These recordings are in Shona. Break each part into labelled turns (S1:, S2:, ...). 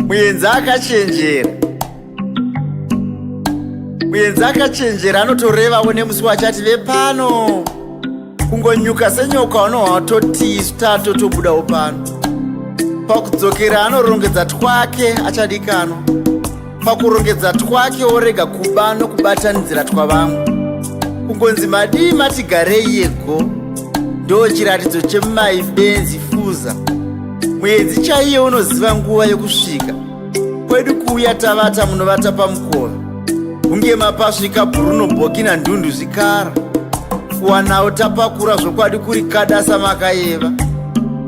S1: muyenzi akachenjera muyenzi akachenjera anotorevawo nemusi wachati vepano kungonyuka senyoka unohatotisu tatotobudawo pano pakudzokera anorongedza twake achadikanwa pakurongedza twake worega kuba nokubatanidzira twavamwe kungonzi madii matigarei yego ndo chiratidzo chemai benzi fuza mwedzi chaiye unoziva nguva yokusvika kwedu kuuya tavata munovata pamukova kunge mapasvika bruno bokina ndundu zvikara kuwanawo tapakura zvokwadi kuri kadasa makayeva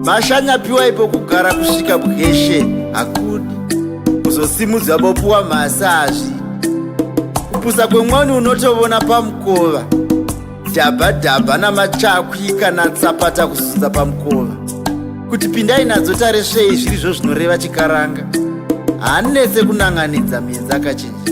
S1: mashanya piwai pokugara kusvika bweshe hakudi kuzosimudzwa bopuwa masazvi kupusa kwemwani unotovona pamukova dhabha dhabha namachakwi kana tsapata kuzunza pamukova kuti pindai nadzo taresvei zviri zvo zvinoreva chikaranga hanetse kunanganidza mienzi akachinja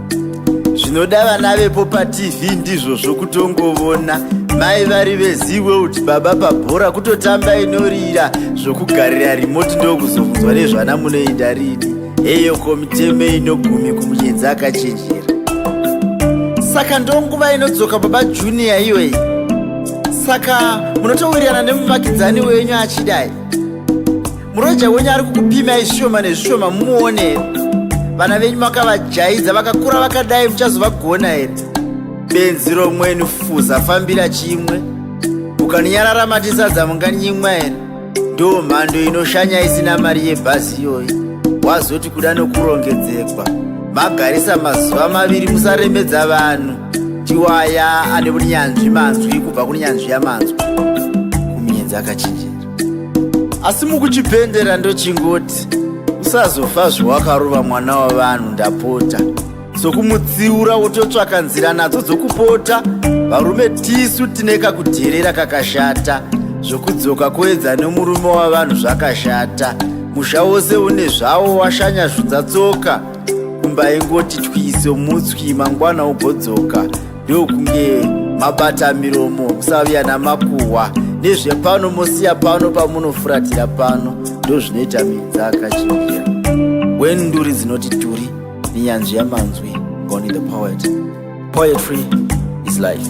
S1: zvinoda vana vepo patv ndizvo zvokutongovona mai vari veziwe kuti baba pabhora kutotamba inorira zvokugarira rimoti ndokuzobvunzwa nezvana munoinda rini heyo komiteme inogumi kumunyenzi akachenjera saka ndonguva inodzoka baba juniya iyoyi saka munotowirirana nemuvakidzani wenyu achidai Muroja wenyu ari kukupimai zvishoma nezvishoma muone vana venyu makavajaidza vakakura vakadai muchazovagona here benzi romwenu fuza fambira chimwe ukaninyarara matisadza munganyimwa here ndo mhando inoshanya isina mari yebhazi iyoyi wazoti kuda nokurongedzekwa magarisa mazuva maviri musaremedza vanhu tiwaya ane unyanzvi manzwi kubva kunyanzvi yamanzwi kumienzi akachinjira asi mukuchipendera ndochingoti usazofa zvewakarova mwana wavanhu ndapota sokumutsiura wototsvaka nzira nadzo dzokupota varume tisu tine kakudherera kakashata zvokudzoka koedza nemurume wavanhu zvakashata musha wose une zvawo washanya zvudzatsoka kumba ingoti twiso mutswi mangwana ugodzoka ndokunge mabata miromo musaviya namakuhwa nezvepano mosiya pano pamunofuratira pano ndozvinoita minza akachinjira wen nduri dzinoti turi nenyanzvi yamanzwi goni the poet poetry is life